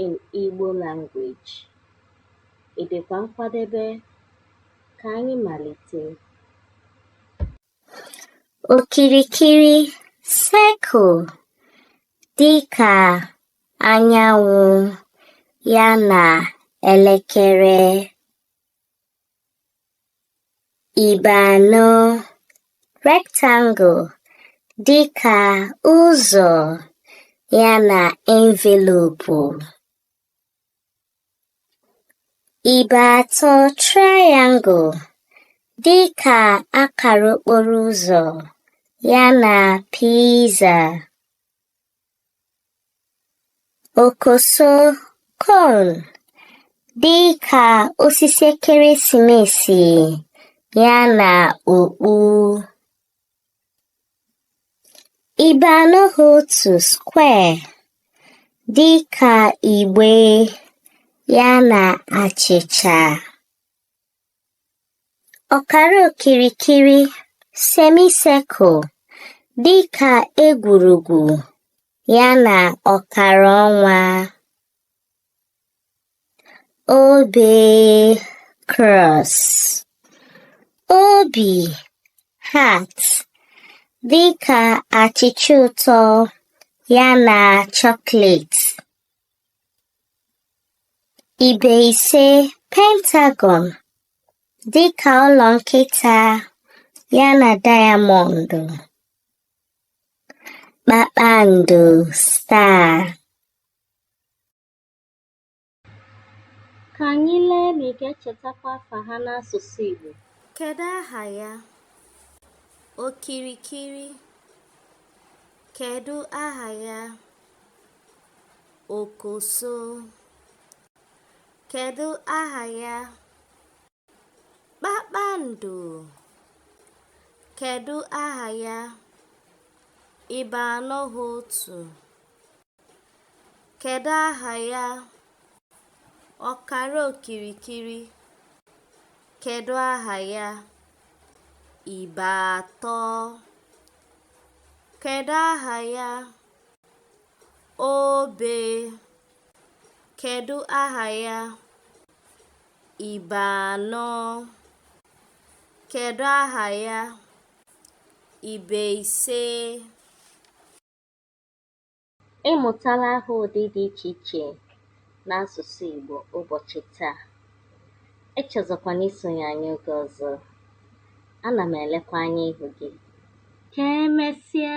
in Igbo language. Ị dịkwa nkwadebe? Ka anyị malite. Okirikiri circle dị ka anyanwụ ya na elekere. Ibe anọ rectangle dịka ụzọ ya na envelopu. Ibe atọ triangle dịka akara okporo ụzọ ya na pizza. Okoso cone dị ka osisi ekeresimesi ya na okpu. Ibe anọ ha otu square dị ka igbe ya na achịcha. ọkara okirikiri semicircle dị ka egwurugwu ya na ọkara ọnwa obe cross obi heart dị ka achịcha ụtọ ya na chocolate. Ibe ise Pentagon dị ka ụlọ nkịta ya na dayamọndụ. Kpakpando star. Ka anyị lee ma ị ga-echetakwa afa ha n'asụsụ Igbo. Kedu aha ya? Okirikiri. Kedu aha ya? okoso kedu aha ya kpakpando kedu aha ya ibe anọ ha otu kedu aha ya ọkara okirikiri kedu aha ya ibe atọ kedu aha ya Obe. Kedu aha ya? Ibe anọ. Kedu aha ya? Ibe ise. Ị mụtala aha ụdị dị iche iche n'asụsụ Igbo ụbọchị taa. Echezọkwana isonye anyị oge ọzọ. Ana m elekwa anya ịhụ gị. Ka emesịa!